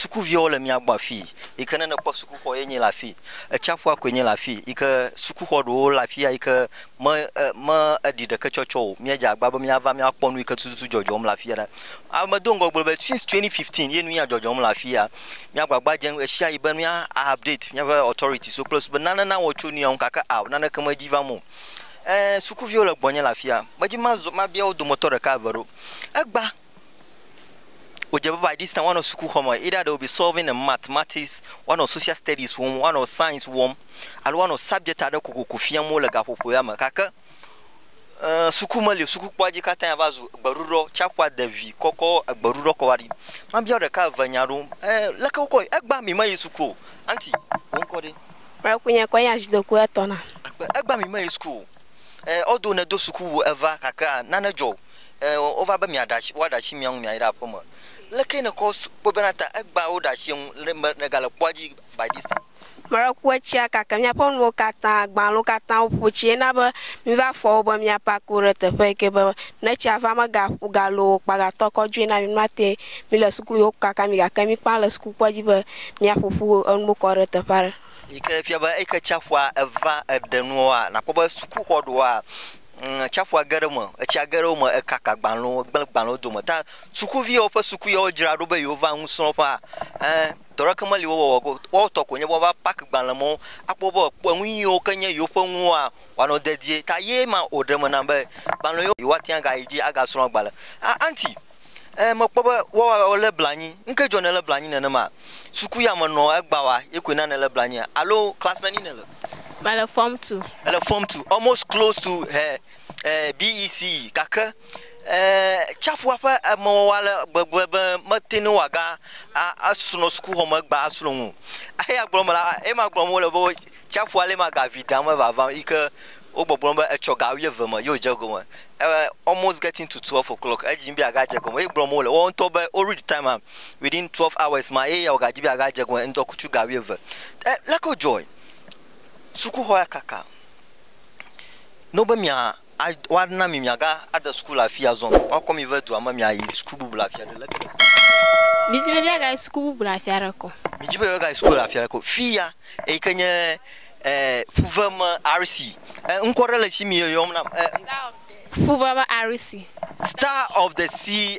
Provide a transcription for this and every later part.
Sukuviawo le mía gbɔ afii yi ke ne nèkpɔ sukuxɔ ye nye le afii. Etsiaƒua koe nye le afii yi ke sukuxɔ ɖewo le afia yi ke me e me eɖi ɖeke tsɔ tsɔ o. Míedze agbagba be míava míakpɔ nu yi ke tututu dzɔdzɔm le afia ɖa. A medo ŋgɔ gblɔ be since twenty fifteen ye nu ya dzɔdzɔm le afia. Mía agbagba dzem ɣeshiaɣi be mía a update míaƒe authorities wo kple be nane nawɔ tso nu ya ŋu gake ao naneke medzi vam o. E sukuviwo le gbɔnye le afia. Medzi mazɔ mabia wo dometɔ ɖeka eve ɖo. Egba. wòdze be by this time woanɔ sukuxɔ me, either they will be solving a mathematics, woanɔ social studies wɔm, woanɔ science wɔm alo woanɔ subject aɖe kokoko fiam wo le gaƒoƒo ya me gake eh, suku meli o, sukukpɔa dzi katã ya va zu gbeɖuɖɔ, tsiaƒua de vi kɔkɔ gbeɖuɖɔ kɔ va ɖi. Mabia ɖeka eve nya ɖo, eh, leke wokɔ egba mi meyi suku o, anti, wo ŋkɔ ɖe? Marakunye kɔ nya zidoku etɔna. Egbe- Egba mi meyi suku o, eh, although nedo sukuwu eva gakea nane dzɔ o. Ɛɛ, wova be miaɖe ashi, woaɖe ashi mia ŋu miayi ɖe aƒeme. Leke nèkɔ kpɔe bena ta egbea woɖe ashi eŋu le me nègale kpɔa dzi by this time? Mlɔekue tsia kake míaƒe nuwo katã, gbãlo katã woƒu tsi. Ena be míva fɔ wo be míapak wo ɖe teƒe yi ke be ne tsia va mega galo o kpa gatɔ kɔ dzoe na mi. Nua te míle suku yi woku kaka mi gake míkpã le sukukpoa dzi be míaƒoƒu enuwo kɔ ɖe teƒe aɖe. Yi ke fia be eyi ke tsia ƒua eva eɖe nuwoa, nakpɔ be sukuxɔ ɖewoa, Ŋ, tsiaƒua ge ɖe eme, etsia ge ɖe wo me, ekaka agbalẽwo, egblẽ agbalẽwo dome. Ta sukuviwo, woƒe suku yawo dzra ɖo be yewova nusrɔ̃ƒea. Ẽ, dɔ aɖeke meli wowɔwɔ go. Woawo tɔ koe nye be woava pack agbalẽ mawo, akpɔ be woakpɔ enu yiwo ke nye yewoƒe enuwoa, woanɔ dedie. Ta ye ma wòɖe eme nam be agbalẽ yiwo, yewoate ŋu agayi dzi agasrɔ̃ agbalẽ. A, auntie. Ẽ, mekpɔ be woawa wòlé blanui. Nu kae dzɔ nèlé blanui nenema? Suku ya mènɔa egbea oa, ye koe na nèlé blanuia? Alo class neni nèle? Mele form two. Èle form two, almost close to ɛ ɛ BECE gake ɛ tsiaƒua ƒe emɔwawa ale gbegbe be mete ŋu wòaga a asrɔ̃ sukuxɔme egbea asrɔ̃ nu o. Eya gblɔm mele, eye magblɔm wole be. Tsiaƒua le ma ga vi dam me vavam yike wo gbɔgblɔm be etsɔ ga wuieve me ye wodze egɔme e almost getting to twelve o'clock edzi yim be yeaga dze egɔme ye gblɔm wole woawo ŋutɔ be wo read time am within twelve hours ma ye yeawo ga dzi be yeaga dze egɔme ŋdɔkutsu ga wuieve e leke wodzɔe sukuxɔ ya kaka no be mia a woana mi miaga ade suku le afi azɔ o. Woakɔ mi ve dua me miayi suku bubu le afi aɖe. Leke le afi sia? Midi be miagayi suku bubu le afi aɖeke o. Midi be miagayi suku le afi aɖeke o. Fi ya eyi ke nye e ƒuve me RC. E ŋkɔ ɖe le esi mi yɔyɔm nam. E. Star of the. Ƒuve me RC. Star of the sea.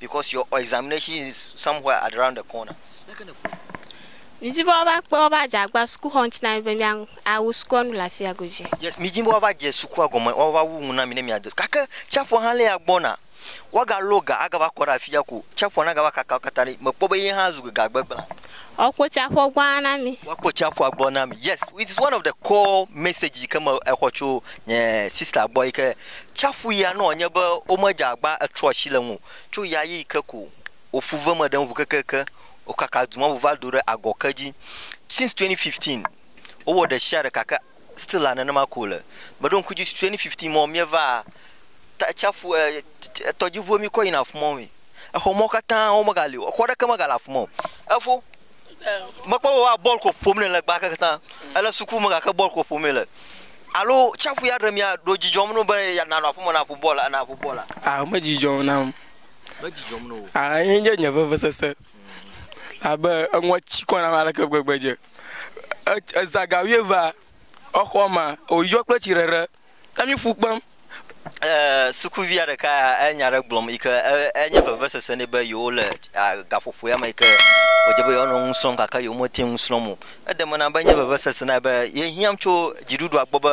because your examination is somewhere around the corner. Midi be woava kpe woƒe adzagba sukuxɔ ŋuti na mi be mia awu sukua nu le afia godzi. Yes, midi be woava dze sukua gɔme, woava wu nu na mi ne mia de. Gake tsiaƒua hã lia gbɔna. Woaga lɔ ga agava kɔ ɖe afia ko. Tsiaƒua na gava kaka wo katã ɖi. Mekpɔ be ye hã zu ga gbegblẽ. Woakpɔ tsaƒua gbɔ ana mi. Woakpɔ tsaƒua gbɔ na mi. Yes, it is one of the core message yi ke me exɔ tso nye sista gbɔ yi ke tsaƒu ya nɔ nye be womedze agba etrɔ asi le ŋu tso ya yi ke ko woƒu ve me ɖe ŋu kekeake. Wokaka du ma ŋu va do ɖe agɔ ke dzi. Since 2015, wowɔ ɖe sia ɖe gake Still la nenema ko wole. Me ɖo ŋku dzi si twenty fifteen mɔ mía va ta tsaƒu e e tɔdziʋu mí kɔ yina afima woe. Exɔ mɔ katã wo me ga li o. Exɔ ɖeke me ga le afima o. Efo me kpɔ be woa bɔl ko ƒom ne le gbake katã. Ele suku me gake bɔl ko ƒom le. Alo tsaƒu ya ɖe mía ɖo dzi dzɔm no be ya na nɔ aƒeme na ƒo bɔl ana ƒo bɔl a? A me dzi dzɔm na wo. Me dzi dzɔm no wo. A ye nye nye vevesese abe enua tsi kɔ na aleke gbegbe dze. eza ga wuieve va exɔ ma wo yɔ kple tsi ɖeɖe ne mi fu kpem. E, sukuvia ɖeka ya enya ɖe gblɔm yi ke enye vevesese nɛ be yewo le gaƒoƒo ya me yi ke wòdze be yewoanɔ nu srɔ̃m gake yewomete ŋu srɔ̃m o. Eɖe me na be enye vevesese na ye be yehiãm tso dziɖuɖua gbɔ be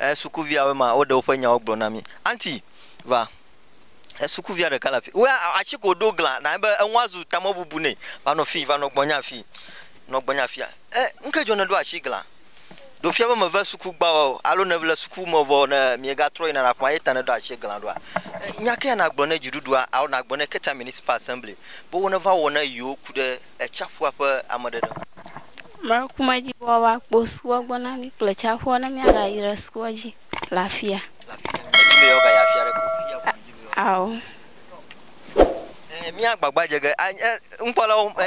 Ɛɛ, sukuviawoe ma, woɖe woƒe nyawo gblɔ na mí. Aunty, va. Ɛɛ, sukuvia ɖeka le afii. Woea atsi ko ɖo glã na ebe enua zu tamebubu nɛ. Va nɔ fii, va nɔ gbɔnye afii. Nɔ gbɔnye afia. Ɛɛ, ŋke dzɔ nèɖo atsi glã? Ɖo fia be mève suku gbã oa o, alo nèle suku me vɔ ne miegatrɔ yina na ƒea ye ta nèɖo atsi glã ɖoa? Ɛɛ, nya kea nagblɔ ne dziɖuɖua, alo nagblɔ ne Keta Municipal Assembly be woneva wɔ ne yewo ku ɖe tsiaƒua ƒe ameɖeɖe ŋu. Mlɔekumedzikpɔkpɔ ƒe akpo sukua gbɔ na mí kple tsiaƒua ne míagayi ɖe sukua dzi le afia. Le afia. Medi be yewoagayi afi aɖeke o. Fia ko medi be yewoagayi. Ao. Ɛɛ, míagbagba dze ge. A, ɛ, nukpɔlawo, ɛ.